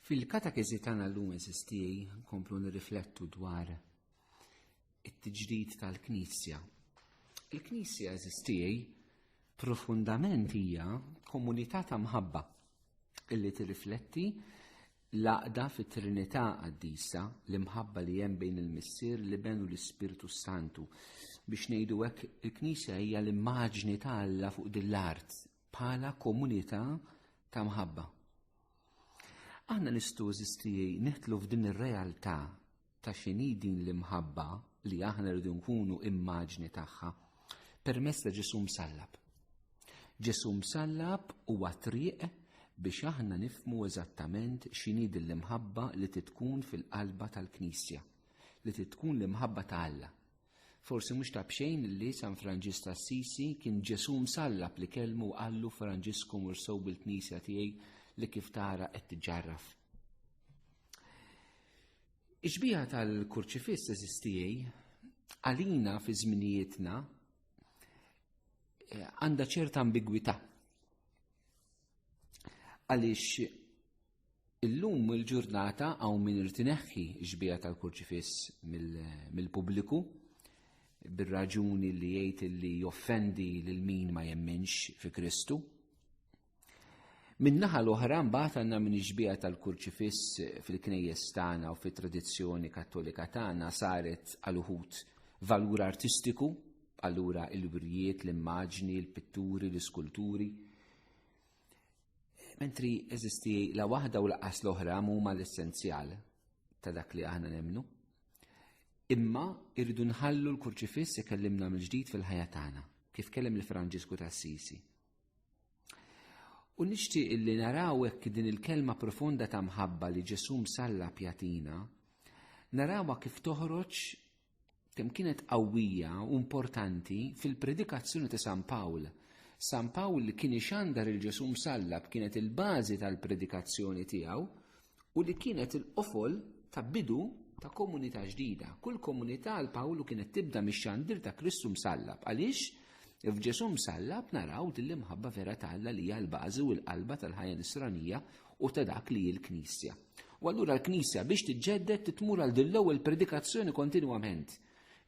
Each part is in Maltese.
Fil-katakezi tagħna llum eżisti komplu nirriflettu dwar it-tiġdid tal-Knisja. Il-Knisja eżisti profondament hija komunità ta' mħabba illi tirrifletti l-aqda fit-Trinità qaddisa l-imħabba li hemm bejn il-Missier li benu l-Ispirtu Santu. Biex ngħidu hekk il-Knisja hija l-immaġni ta' Alla fuq din l-art Bħala komunità ta' mħabba. Aħna nistu eżistijie neħtlu f'din ir-realtà ta' xini din l-imħabba li aħna rridu nkunu immaġni tagħha permess ta' Ġesu msallab. Ġesu msallab huwa triq biex aħna nifmu eżattament xini din l-imħabba li titkun fil-qalba tal-Knisja, li titkun l-imħabba ta' Alla. Forsi mhux ta' bxejn li San Franġis ta' Assisi kien Ġesù msallab li kelmu qallu Franġisku mur sow bil-knisja tiegħi li kif tara qed tiġġarraf. Iġbija tal-kurċifiss eżistijej għalina fi żminijietna eh, għandha ċerta ambigwità. Għaliex Illum il-ġurnata hawn min irid ineħħi x-xbieha tal-kurċifiss mill-pubbliku bir-raġuni li jgħid li joffendi lil min ma jemminx fi Kristu. Min-naħa l-oħra mbagħad għandna min ix-xbieha tal-kurċifiss fil-knejjes tagħna u fit-tradizzjoni kattolika tagħna saret għal uħud valur artistiku, allura il-wirjiet, l-immaġni, il-pitturi, l-iskulturi. Mentri eżisti la waħda u laqas l-oħra huma l-essenzjal ta' dak li aħna nemnu. Imma irridu nħallu l-kurċifiss ikellimna mill-ġdid fil-ħajja tagħna, kif kellem il-Franġisku ta' Sisi. U nixtieq illi naraw hekk din il-kelma profonda ta' mħabba li Ġesù msalla pjatina, narawha kif toħroġ kemm kienet qawwija u importanti fil-predikazzjoni ta' San Pawl. San Pawl li kien ixandar il-Ġesu msallab kienet il-bażi tal-predikazzjoni tiegħu u li kienet il-qofol ta' bidu ta' komunità ġdida. Kull komunità għal Pawlu kienet tibda mix-xandir ta' Kristu msallab. Għaliex? F'Ġesu msallab naraw din l-imħabba vera ta' Alla li hija l-bażi u l-qalba tal-ħajja nisranija u ta' dak li hi l-Knisja. U allura l-Knisja biex tiġġedded titmur għal din l-ewwel predikazzjoni kontinwament.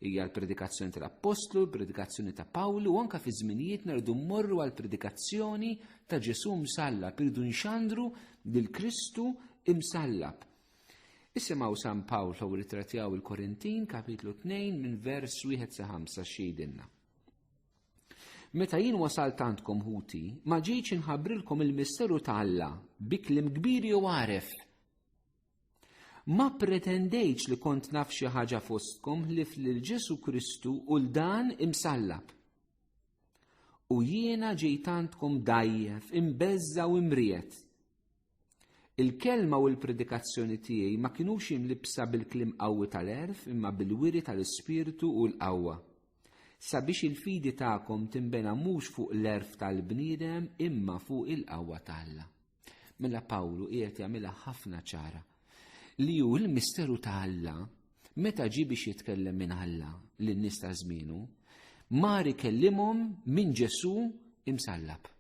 Hija l-predikazzjoni tal-Appostlu, l-predikazzjoni ta' Pawlu, u anke fi żminijiet nerdu mmorru għal predikazzjoni ta' Ġesù msallab, irdu nxandru lil Kristu imsallab. Isimgħu San Pawl u ritratjaw il-Korintin, kapitlu 2, minn vers 1 sa 5 xidinna. Meta jien wasalt għandkom ħuti, ma ġejtx inħabbrilkom il-misteru ta' Alla bi kliem kbir jew għaref. Ma pretendejtx li kont naf xi ħaġa fostkom ħlif lil Ġesu Kristu u l dan imsallab. U jiena ġejt għandkom dajjef, imbeżża u imriet. Il-kelma u l-predikazzjoni tiegħi ma kinux imlibsa bil-kliem qawwi tal-għerf imma bil-wiri tal-Ispirtu u l-qawwa. Sabiex il-fidi tagħkom tinbena mhux fuq l-għerf tal-bniedem imma fuq il-qawwa ta' Alla. Mela Pawlu qiegħed jagħmilha ħafna ċara li hu l-misteru ta' Alla Meta ġie biex jitkellem minn Alla lin-nies ta' żmienu, mar ikellimhom minn Ġesù imsallab.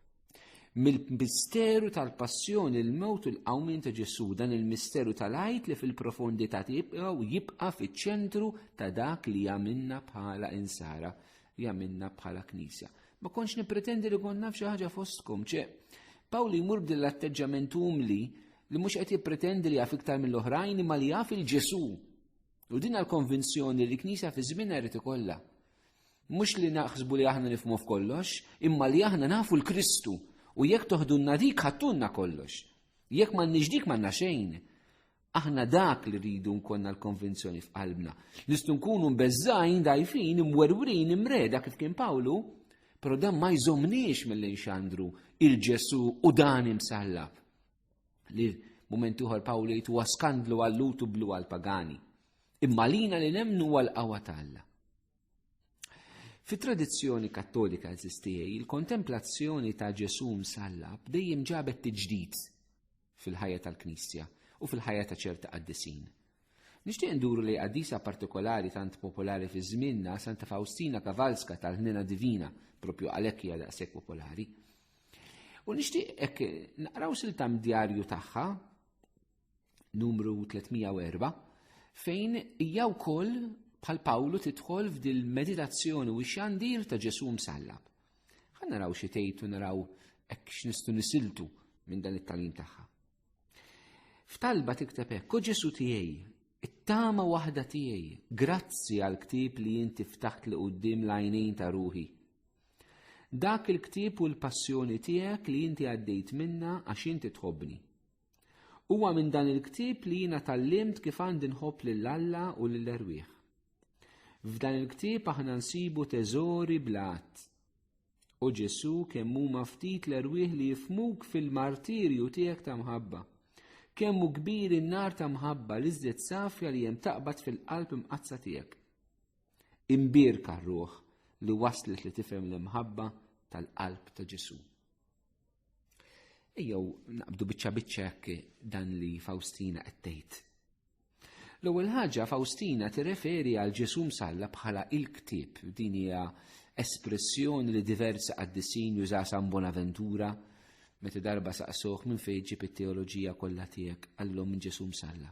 Mill-misteru tal-passjoni l-mewt u l-qawmien ta' Ġesù dan il-misteru tal-għajt li fil-profondità tibqgħu jibqa' fiċ-ċentru ta' dak li għamilna bħala insara li għamilna bħala knisja. Ma konx nipretendi li kont naf xi ħaġa fostkom, ċe. Pawli jmur b'din l-atteġġament umli li mhux qed jippretendi li jaf iktar mill-oħrajn imma li jaf il-Ġesu. U din għal-konvinzjoni li knisja fi żmien irid ikollha. Mhux li naħsbu li aħna nifmu f'kollox, imma li aħna nafu l-Kristu u jekk toħdunna dik ħattunna kollox. Jekk m'għandniex dik m'għandna xejn. Aħna dak li rridu nkonna l-konvinzjoni f'qalbna. Nistgħu nkunu mbeżżajn, dajfin, imwerwrin, imreda kif kien Pawlu, però dan ma jżomniex mill nxandru il-Ġesu u dan imsallab. Li mument uħor Pawlu jgħid huwa skandlu għallut u blu għal-pagani. Imma lina li nemnu għal-qawa ta' Alla. Fi tradizzjoni kattolika eżistijaj, il-kontemplazzjoni ta' Ġesu msallab dejjem ġabet tiġdid fil-ħajja tal-Knisja u fil-ħajja ta' ċerta qaddisin. Nixtieq nduru li qaddisa partikolari tant popolari fi żmienna Santa Faustina Kavalska tal-Ħnina Divina, propju għalhekk hija daqshekk popolari. U nixtieq hekk naqraw siltam djarju tagħha numru 304 fejn hija wkoll bħal Pawlu tidħol f'dil meditazzjoni u xandir ta' Ġesù msallab. Ħa naraw xi tgħid u naraw hekk x'nistgħu nisiltu minn dan it-talim tagħha. F'talba tikteb hekk, u Ġesu tiegħi, it-tama waħda tiegħi, grazzi għal ktib li inti ftaħt li qudiem l-għajnejn ta' ruħi. Dak il-ktib u l-passjoni tiegħek li inti għaddejt minna għax inti tħobbni. Huwa minn dan il-ktieb li jiena tallimt kif għandi nħobb lil Alla u lil erwieħ. F'dan il-ktieb aħna nsibu teżori blat. U Ġesu kemm huma ftit l-erwieħ li jifmuk fil-martirju tiegħek ta' mħabba. Kemm hu kbir in-nar ta' mħabba li żdiet safja li hemm taqbad fil-qalb imqazza tiegħek. Imbierka ruħ li waslet li tifhem l-imħabba tal-qalb ta' Ġesu. Ejjew naqbdu biċċa biċċa dan li Faustina qed tgħid. L-ewwel ħaġa Faustina tirreferi għal Ġesù msalla bħala il-ktieb. Din hija espressjoni li diversi qaddisin juża San Bonaventura meta darba saqsuh minn fejn ġib it-teoloġija kollha tiegħek għallhom minn Ġesù msalla.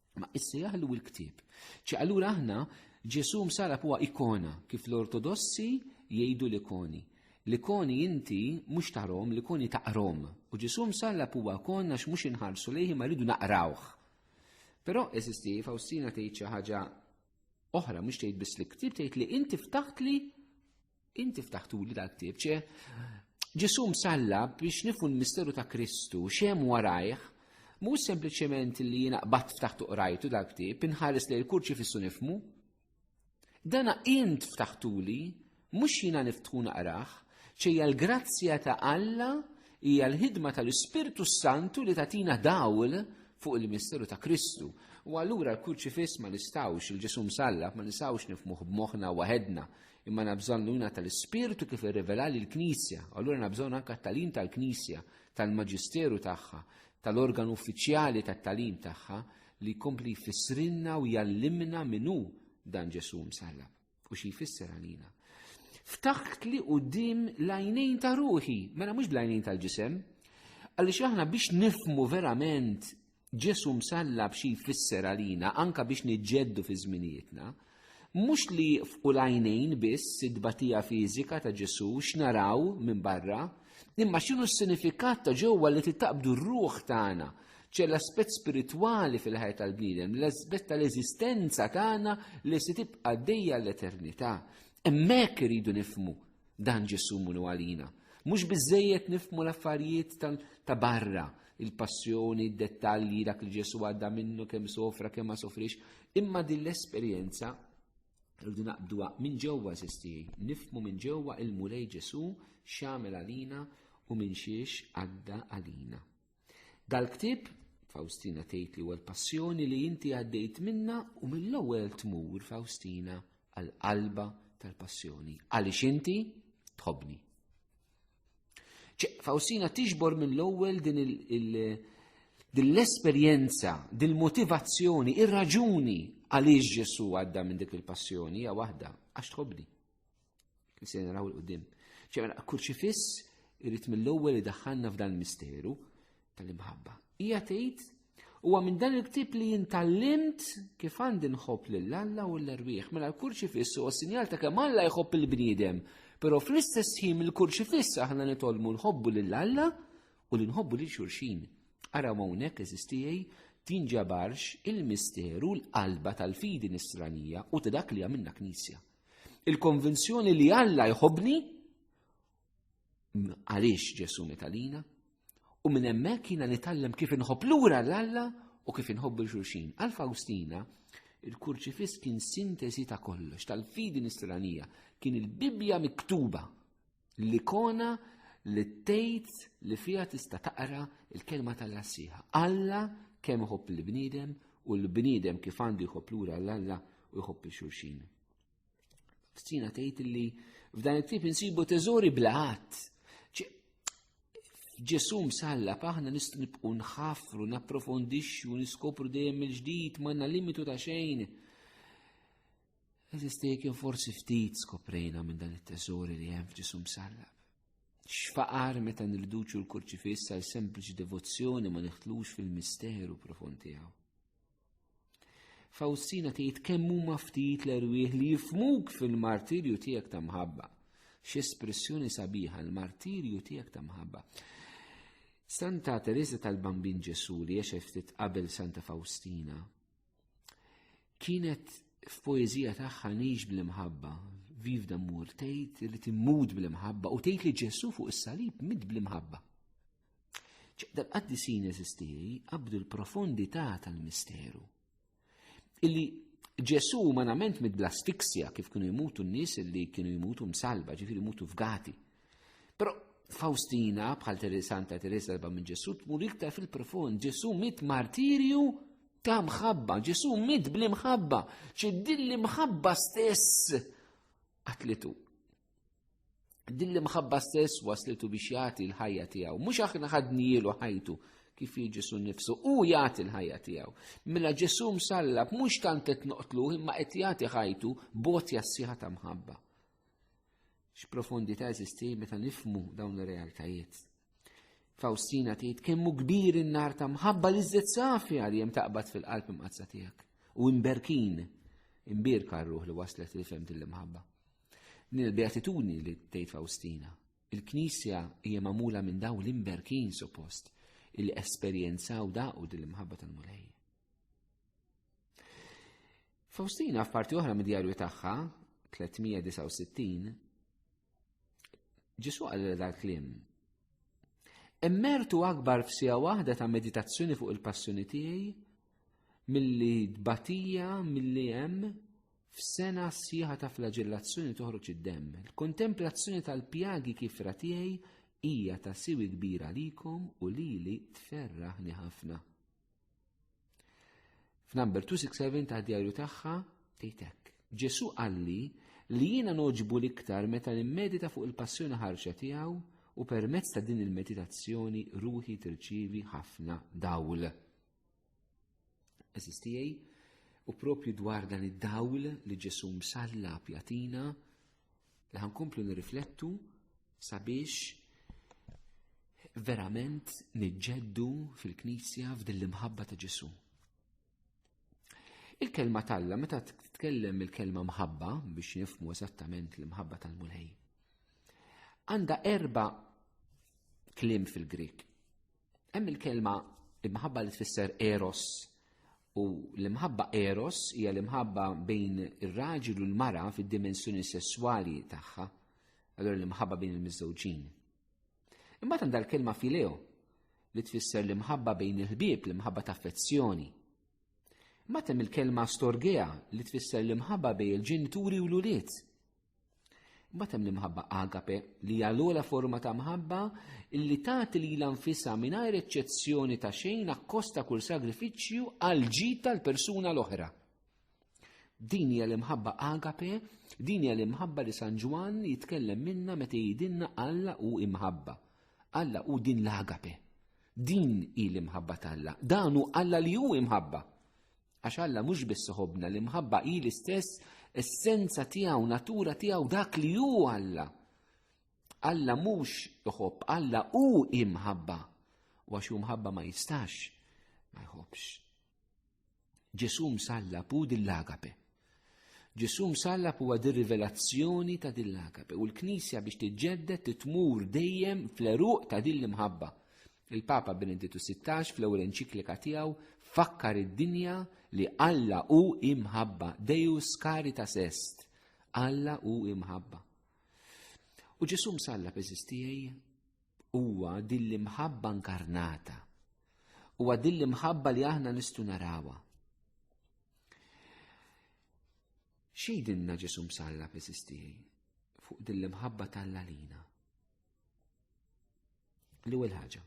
Ma issa jaħlu l-ktieb. Ċi allura aħna Ġesu msarab huwa ikona kif l-ortodossi jgħidu l-ikoni. L-ikoni inti mhux tarom, l-ikoni taqrom. U Ġesu msarab huwa konna x'mhux inħarsu lejhi ma rridu naqrawh. Però eżisti Faustina tgħid xi ħaġa oħra mhux tgħid biss li ktieb tgħid li inti ftaħt li Inti ftaħtuli dal-ktieb, ċe ġisum salla biex nifu l-misteru ta' Kristu, xem warajħ, mu sempliciment li jina qbat ftaħtu qrajtu dal-ktieb, inħares li l-kurċi fissu nifmu. Dana int ftaħtuli, mux jina niftħu naqraħ, ċeja l-grazzja ta' Alla hija l-ħidma tal-Ispirtu Santu li tatina dawl fuq il-misteru ta' Kristu. U allura l-kurċifiss ma nistawx, il-ġisum sallab ma nistawx nifmuħ b'moħna waħedna, Imma għandna bżonn l-għuna tal-Ispirtu kif irrivela li l-Knisja, allura għandna bżonn anke t-talim tal-Knisja, tal-Maġisteru tagħha, tal-organ uffiċjali tat-talim tagħha li jkompli jfissrinna u jallimna minnu dan Ġesu msallab u xi jfisser għalina. Ftaħt li u dim lajnejn ta' ruħi, mela mhux lajnejn tal-ġisem, għaliex aħna biex nifmu verament Ġesù msallab xi jfisser għalina anke biex niġġeddu fi żminijietna. Mhux li jieqfqu l-għajnejn biss it-tbatija fiżika ta' Ġesù x'naraw minn barra, imma x'inhu s-sinifikat ta' ġewwa li titaqbdu r-ruħ tagħna, ċe l-aspett spiritwali fil-ħajja tal-bniedem, l-aspett tal-eżistenza tagħna li se tibqa' għaddejja għall-eternità. Hemmhekk iridu nifhmu Dan Ġesu munu għalina. Mhux biżżejjed nifmu l-affarijiet ta' barra, il-passjoni, d-dettalji, dak li Ġesu għadda minnu kemm sofra, kemm ma sofrix, imma din l-esperjenza rridu naqbduha minn ġewwa sistijaj, nifmu minn ġewwa il-Mulej Ġesu x'għamel għalina u minn xiex għadda għalina. Dal-ktieb, Faustina tgħid li huwa l-passjoni li inti għaddejt minna u mill-ewwel tmur Faustina għall-qalba tal-passjoni. Għaliex inti tħobni. Faustina tiġbor mill-ewwel din l-esperjenza, din l-motivazzjoni, ir-raġuni għaliex Ġesu għadda minn dik il-passjoni hija waħda għax tħobni. Se naraw il-qudiem. Ċemela, mela, kurċifiss irrit mill-ewwel li daħħalna f'dan misteru tal-imħabba. Hija tgħid huwa minn dan il-ktib li jintallimt kif għandi nħobb lil Alla u l-erwieħ. Mela l-kurċifiss huwa sinjal ta' kemm Alla jħobb il-bniedem. Però fl-istess ħin il-kurċifiss aħna nitolmu nħobbu lil Alla u li nħobbu lil xulxin. Ara hawnhekk eżistijaj tinġabarx il-misteru l-qalba tal-fidi nisranija u ta' dak li għamilna knisja. Il-konvinzjoni li Alla jħobni għaliex Ġesu metalina u minn hemmhekk jiena nitgħallem kif inħobb lura l-Alla u kif inħobbu l-xulxin. Għal Faustina, il-kurċifiss kien sintesi ta' kollox, tal-fidi nisranija, kien il-Bibbja miktuba L-ikona li tgħid li fiha tista' taqra l-kelma tal-Alla sħiħa. Alla kemm iħobb il-bniedem u l-bniedem kif għandu jħobb lura l-Alla u jħobb il-xulxin. Stina tgħid li f'dan it-tip insibu teżori blaħat. Ġesu msalla paħna nist nibqu nħafru, napprofondixxu, niskopru dejjem il-ġdid, ma limitu ta' xejn. Eżisti kien forsi ftit skoprejna minn dan it-teżori li hemm f'ġisum sallab. X'faqar meta nirduċu l-kurċifiss għal sempliċi devozzjoni ma neħtlux fil-misteru profond tiegħu. Fawstina tgħid kemm huma ftit l-erwieħ li jifmuk fil-martirju tiegħek ta' mħabba. X'espressjoni sabiħa l-martirju tiegħek ta' mħabba. Santa Teresa tal-Bambin Ġesu li ftit qabel Santa Fawstina Kienet f'poeżija tagħha nix bl-imħabba, viv dammur tgħid li timmut bl-imħabba u tgħid li Ġesu fuq is-salib mid bl-imħabba. ċaqdal qaddisin eżistiri qabdu l-profondità tal-misteru. Illi Ġesu umanament mid bl-asfiksja kif kienu jmutu n-nies illi kienu jmutu msalba, ġifiri jmutu fgati Però Faustina, bħal Teresa Santa Teresa l minn Ġesu, tmur iktar fil-profond. Ġesu mit martirju ta' mħabba, Ġesu mit bli mħabba, ċi dilli mħabba stess għatlitu. Dilli mħabba stess waslitu biex jagħti l-ħajja tiegħu. Mhux aħna ħadnielu ħajtu kif Ġesu nifsu u jagħti l-ħajja tiegħu. Mela Ġesu msallab mhux tant qed noqtlu imma qed jagħti ħajtu bot jassiħa ta' mħabba. X'profondità eżisti meta nifmu dawn ir-realtajiet. Faustina tgħid kemmu kbir in-nar ta' mħabba li żżed safja li hemm taqbad fil-qalb imqazza tiegħek u imberkin imbirka r-ruħ li waslet li fem din l-imħabba. Din il-beatitudni li tgħid Faustina. Il-Knisja hija magħmula minn daw l-imberkin suppost li esperjenzaw daqu din l-imħabba tal-Mulej. Faustina f'parti oħra mid-djarju tagħha, 369, Ġesu għal dal-klim. Immertu akbar f'sija waħda ta' meditazzjoni fuq il-passjoni tiegħi milli tbatija milli hemm f'sena sieħa ta' flagellazzjoni toħroġ id-demm. Il-kontemplazzjoni tal-pjagi kif tiegħi hija ta' siwi kbira likom u lili tferraħni ħafna. F'number 267 ta' djarju tagħha tgħidek. Ġesu qalli li jiena noġbu l-iktar meta nimmedita fuq il-passjoni ħarxa tiegħu u permezz ta' din il-meditazzjoni ruħi tirċivi ħafna dawl. Eżistijaj, u propju dwar dan id-dawl li ġesu msalla pjatina, li ħankomplu nirriflettu sabiex verament niġġeddu fil-Knisja f'din l-imħabba ta' Ġesu. Il-kelma talla meta titkellem il-kelma mħabba biex nifmu eżattament l-imħabba tal-Mulej. Għanda erba' klim fil-Grik. Hemm il-kelma imħabba li tfisser eros U l-imħabba eros hija l-imħabba bejn ir-raġel u l-mara fid-dimensjoni sesswali tagħha, allura l-imħabba bejn il-miżżewġin. Imbagħad għandha l-kelma fileo li tfisser l-imħabba bejn il-ħbieb, l-imħabba ta' affezzjoni. Matem il-kelma storgea li tfisser l-imħabba bejn il-ġenituri u l-ulied. Mbagħad hemm l-imħabba agape li hija l-ogħla forma ta' mħabba li tagħti lilha nfisha mingħajr eċċezzjoni ta' xejn akkosta kull sagrifiċċju għal ġid tal-persuna l-oħra. Din hija l-imħabba agape, din hija l-imħabba li San Ġwann jitkellem minna meta jidinna Alla u imħabba. Alla u din l-agape. Din hi l-imħabba t'Alla. Dan hu Alla li hu imħabba. Għax Alla mhux biss iħobbna l-imħabba hi l-istess essenza tiegħu, natura tiegħu dak li hu Alla. Alla mhux iħobb, Alla hu imħabba. U għax hu mħabba ma jistax ma jħobbx. Ġesù msalla pu dil-lagape. Ġesù msalla pu għad rivelazzjoni ta' dil-lagape u l-Knisja biex tiġġedded titmur dejjem fl-eruq ta' din l-imħabba. Il-Papa Benedittu XVI fl-ewwel enċiklika tiegħu fakkar id-dinja li Alla hu imħabba, Deus caritas est, Alla hu imħabba. U Ġesù msalla peżistijaj huwa din l-imħabba inkarnata. Huwa din l-imħabba li aħna nistu narawa. Xejdinna Ġesù msalla peżistijaj fuq din l-imħabba tal-lalina? L-ewwel ħaġa.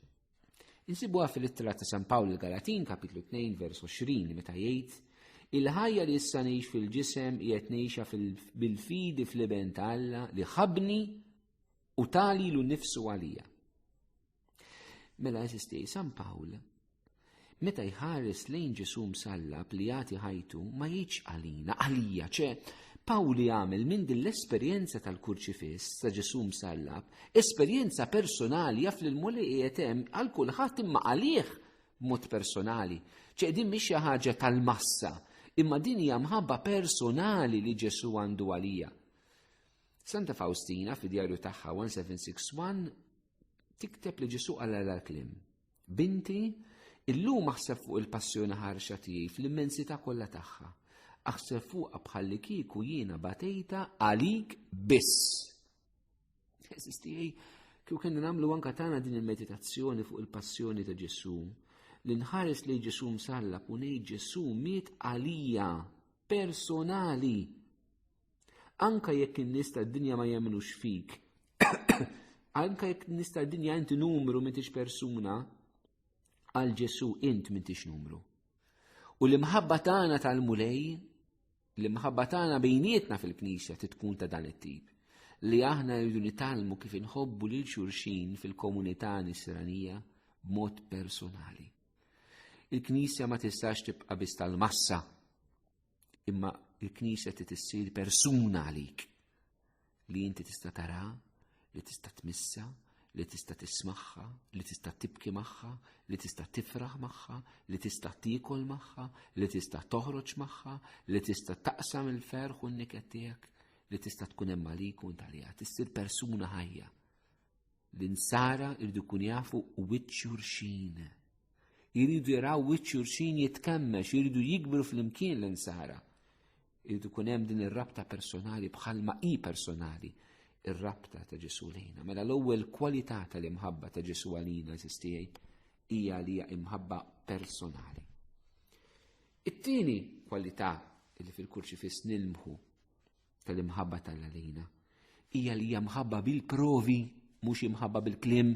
Insibuha fil-ittra ta' San Pawl il-Galatin, kapitlu 2, vers 20, meta jgħid Il-ħajja li issa ngħix fil-ġisem qiegħed ngħixha bil-fidi fl-iben ta' Alla li ħabni u tali lu nifsu għalija. Mela jesisti, San Pawl Meta jħares lejn Ġesu msallab li jagħti ħajtu ma jiġ għalina, għalija ċe, Pawli għamel minn din l-esperjenza tal-kurċifiss ta' Ġesu msallab, esperjenza personali jaf li l-muli qiegħed hemm għal kulħadd imma għalih mod personali. ċe din mhix xi ħaġa tal-massa, imma din hija mħabba personali li Ġesu għandu għalija. Santa Faustina fi djarju tagħha 1761 tikteb li Ġesu għal l-klim Binti, illum aħseb fuq il-passjoni ħarxa tiegħi fl-immensità kollha tagħha. Aħseb fuqha bħalli kieku jiena batejta għalik biss. Eżis tiegħi, kieku kien nagħmlu anka tagħna din il-meditazzjoni fuq il-passjoni ta' Ġesu. Li nħares li Ġesu msallab u ngħid Ġesu miet għalija personali. Anka jekk in-nies tad-dinja ma jemnux fik, anka jekk in-nies tad-dinja inti numru m'intix persuna, għal Ġesu int m'intix numru. U l-imħabba tagħna tal-Mulej, l-imħabba tagħna bejnietna fil-Knisja titkun ta' dan it-tip li aħna rridu nitalmu kif inħobbu lil xurxin fil-komunità nisranija b'mod personali. Il-Knisja ma tistax tibqa' biss tal-massa. Imma il-Knisja ti tissir persuna għalik li inti tista' tara, li tista' tmissa, li tista' tismaħħa, li tista' tibki magħha, li tista' tifraħ magħha, li tista' tiekol magħha, li tista' toħroġ magħha, li tista' taqsam il-ferħ u n-niket tiegħek, li tista' tkun hemm għalik u intalija, tissir persuna ħajja. L-insara irdu kun jafu wiċċ xurxin. Iridu jaraw wiċċ xurxin jitkemmex, iridu jikbru fl-imkien l-insara. Iridu kun hemm din ir-rabta personali bħalma hi personali ir-rabta ta' Ġesu lejna. Mela l-ewwel kwalità tal-imħabba ta' Ġesu għalina sistijaj hija li hija imħabba personali. It-tieni kwalità li fil-kurċifiss nilmħu tal-imħabba tal-għalina. Ija li jamħabba bil-provi, mux imħabba bil-klim.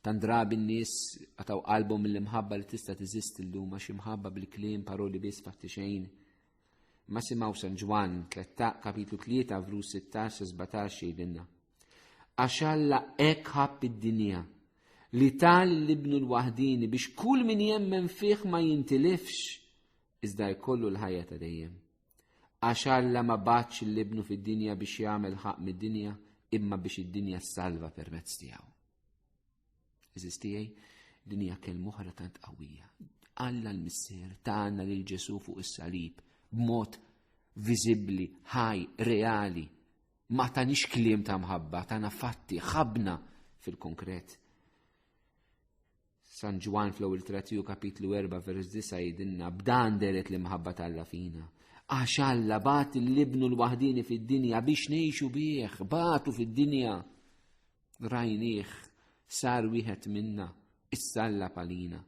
Tan drabi n-nis għataw qalbom mill-imħabba li tista tiżist l-lum, għax imħabba bil-klim, paroli bis fatti xejn. Ma simaw San Ġwan, kapitlu 3, vru 16-17 jidinna. Għax Alla ek ħab id-dinja, li tal l-ibnu l-wahdini biex kull min jemmen fiħ ma jintilifx, iżda jkollu l-ħajja ta' dejjem. Għax Alla ma batx l-ibnu fid-dinja biex jagħmel ħaq mid-dinja imma biex id-dinja salva permezz tiegħu. Eżis tiegħi, din hija kelm oħra tant qawwija. Alla l-Missier tagħna lil Ġesu fuq is-salib b'mod viżibbli, ħaj, reali. Ma tanix kliem ta' mħabba, tagħna fatti, ħabna fil-konkret. San Ġwan fl-ewwel tratiju kapitlu 4 vers 9 jidinna b'dan deret l-imħabba tal-la fina. Għax Alla bat l-ibnu l-waħdini fid-dinja biex ngħixu bih, batu fid-dinja. Rajnieh sar wieħed minna, issalla palina.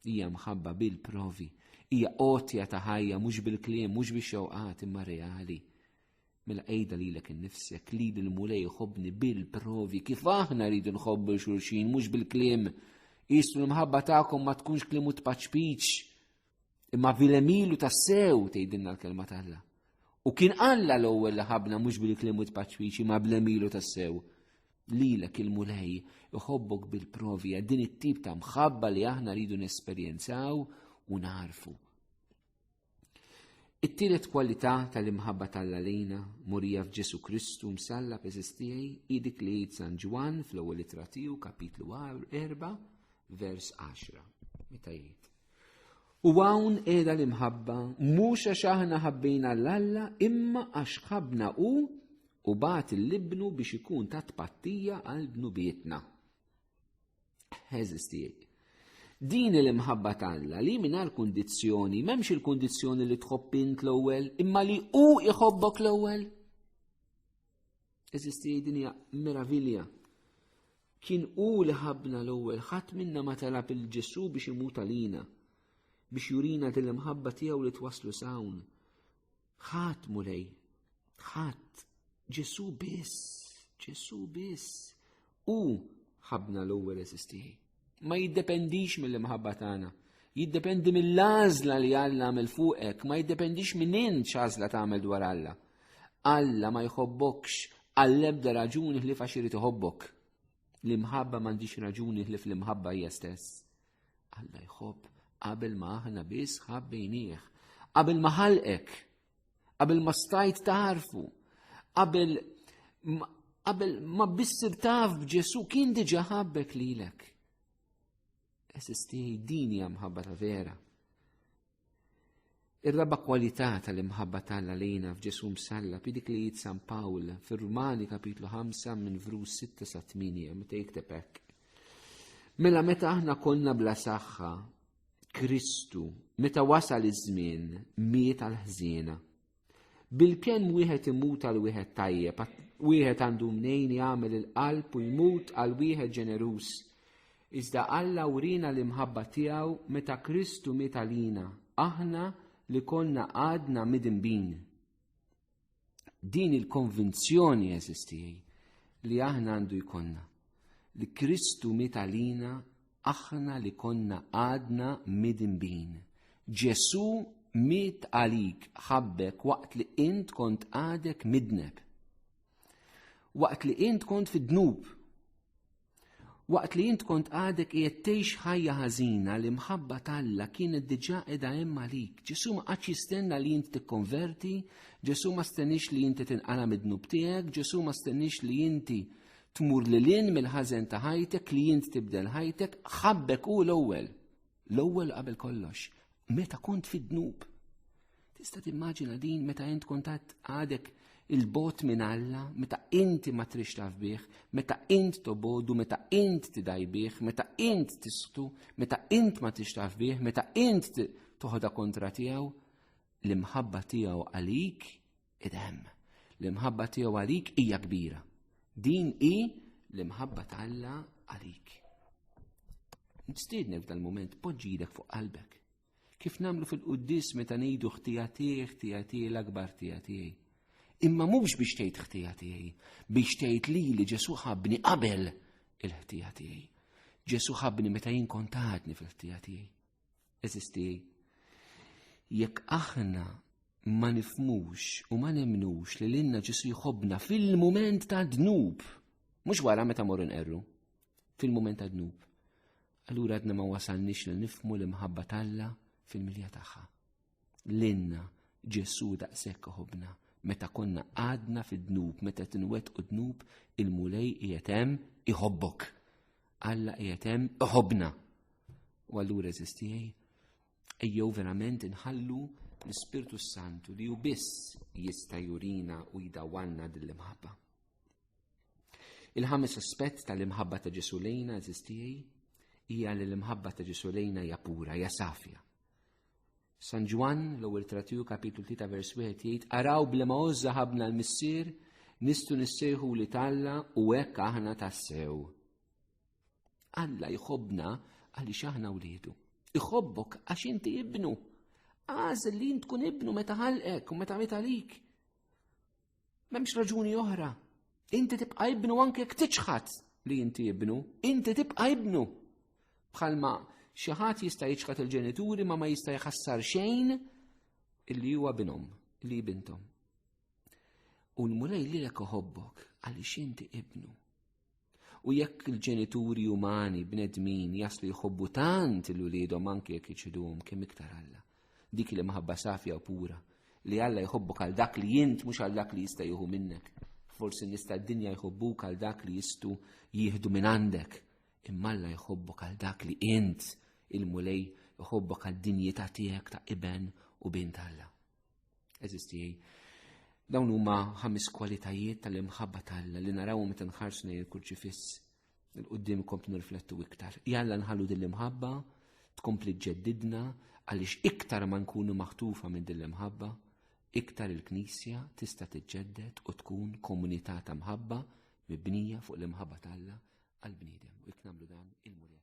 Hija mħabba bil-provi, hija qotja ta' ħajja mhux bil-kliem, mhux bix-xewqat imma reali. Mela qejda lilek innifsek li l-Mulej jħobbni bil-provi kif aħna rridu nħobbu xulxin mhux bil-kliem. Isu l-mħabba tagħkom ma tkunx klimu tpaċpiċ. Imma bil-emilu tassew tgħidilna l-kelma tagħha. U kien Alla l-ewwel li ħabna mhux bil-klimu tpaċpiċ imma bl-emilu tassew. Lilek il-Mulej iħobbok bil-provi din it-tip ta' mħabba li aħna rridu nesperjenzaw u narfu. It-tielet kwalità tal-imħabba tal lejna, murija f'Ġesu Kristu msalla peżistijaj, hi dik li jgħid San Ġwann fl-ewwel ittra tiegħu kapitlu 4 vers 10. Meta jgħid. U hawn qiegħda l-imħabba mhux għax aħna ħabbejna l-Alla imma għax ħabna u u bat l-ibnu biex ikun ta' tpattija għal dnubietna. Eżisti. Din il-imħabba tagħna li mingħajr kundizzjoni, m'hemmx il-kundizzjoni li tħobb int l-ewwel, imma li hu iħobbok l-ewwel. Eżisti din hija meravilja. Kien hu li ħabna l-ewwel ħadd minna ma talab il-Ġesu biex imut għalina, biex jurina din l-imħabba tiegħu li twasslu sawn Ħadd mulej, ħadd Ġesu biss, Ġesu biss. U ħabna l-ewwel eżistieħi. Ma jiddependix mill-imħabba tagħna jiddependi mill-għażla li Alla għamel fuqek, ma jiddependix minn int x'għażla tagħmel dwar Alla. Alla ma jħobbokx għall-ebda raġuni li faxiri iħobbok. L-imħabba m'għandix raġuni li fl-imħabba hija stess. Alla jħobb qabel ma aħna biss ħabbejnieh, qabel ma ħalqek, qabel ma stajt tarfu, qabel qabel ma bissir taf b'Ġesu kien diġa ħabbek lilek. Esisti din hija mħabba ta' vera. Ir-raba' kwalità tal-imħabba tal għalina f'Ġesù msalla bi dik li jgħid San Pawl fir-Rumani kapitlu 5 minn vrus 6 sa 8 meta jikteb hekk. Mela meta aħna konna bla saħħa, Kristu, meta wasal iż-żmien, miet għal ħżiena. Bil-pjan wieħed imut għal wieħed tajjeb, wieħed għandu mnejn jagħmel il-qalb u jmut għal wieħed ġeneruż. Iżda Alla urina l-imħabba tiegħu meta Kristu miet għalina, aħna li konna għadna midinbin. Din il-konvinzjoni eżistijaj li aħna għandu jkonna li Kristu miet għalina Aħna li konna għadna midinbin. Ġesù miet għalik ħabbek waqt li int kont għadek midneb. Waqt li int kont fid-dnub. Waqt li int kont għadek qiegħed tgħix ħajja ħażina li mħabba talla kienet diġà qiegħda hemm għalik. Ġesù ma qatx jistenna li int tikkonverti, Ġesù ma stenix li inti tinqala mid-dnub tiegħek, Ġesù ma stenix li inti Tmur lil hinn mill-ħażen ta' ħajtek li int tibdel ħajtek, ħabbek hu l-ewwel. L-ewwel qabel kollox, meta kont fid-dnub. Tista' timmaġina din meta int kont għadek il-bot minn Alla, meta inti ma trix taf bih, meta int tobodu, meta int tidajbih, meta int tisqtu, meta int ma trix taf bih, meta int toħda kontra tiegħu, l-imħabba tiegħu għalik Idem, l-imħabba tiegħu għalik hija kbira. Din hi l-imħabba ta' Alla għalik. Nistidnek dal-moment poġġidek fuq qalbek. Kif namlu fil-quddis meta ngħidu ħtija tiegħi, ħtija tiegħi l-akbar ħtija tiegħi. Imma mhux biex tgħid ħtija tiegħi, biex tgħid li li Ġesu ħabni qabel il-ħtija tiegħi. Ġesu ħabni meta jien kontatni fil-ħtija tiegħi. Eżisti, jekk aħna ma nifmux u ma nemnux li l-inna ġisu jħobna fil-moment ta' dnub, mux wara meta morru nqerru, fil-moment ta' dnub. Allura għadna ma wasalnix li nifmu l-imħabba talla fil-milja tagħha. L-inna Ġesu daqshekk ħobna meta konna għadna fid-dnub, meta tinwet u dnub il-mulej jietem iħobbok. Alla jietem iħobna. U għallura eżistijaj, ejjew verament inħallu l-Spirtu Santu li ju biss jista jurina u jidawalna dil-imħabba. Il-ħames aspett tal-imħabba ta' Ġesu lejna eżistijaj, hija li l-imħabba ta' Ġesu lejna hija pura, hija safja. San Ġwan, l-ewwel tratiju kapitlu 3 vers 1 jgħid araw blema ożża ħabna l-missier nistu nissejħu li talla u hekk aħna tassew. Alla jħobna għaliex aħna wliedu. Iħobbok għax inti ibnu. Għażel li tkun ibnu meta ħalqek u meta meta lik. M'hemmx raġuni oħra. Inti tibqa' ibnu anke jekk tiċħad li inti ibnu, inti tibqa' ibnu. Bħalma xi ħadd jista' jiċħad il-ġenituri ma ma jista' jħassar xejn illi huwa binhom, li bintom. U l-mulej lilek oħobbok għaliex inti ibnu. U jekk il-ġenituri umani bnedmin jaslu jħobbu tant il-uliedhom anke jekk iċiduhom kemm iktar Alla. Dik li maħabba safja u pura li Alla jħobbok għal dak li jint mhux għal dak li jista' jieħu minnek. Forsi nista' d-dinja jħobbuk għal dak li jistu jieħdu minn għandek. Imma Alla jħobbok għal dak li int il-mulej jħobbok għad-dinjità tiegħek ta' iben u bint Alla. Eżisti, dawn huma ħames kwalitajiet tal-imħabba tal-Alla li naraw meta nħarsu lejn il-kurċifiss il-qoddim kompli nirflettu iktar. Jalla nħallu din l-imħabba tkompli ġeddidna għaliex iktar ma nkunu maħtufa minn din l-imħabba, iktar il-Knisja tista' tiġġedded u tkun komunità ta' mħabba mibnija fuq l-imħabba tal-Alla għal-bniedem u jekk nagħmlu dan il-murja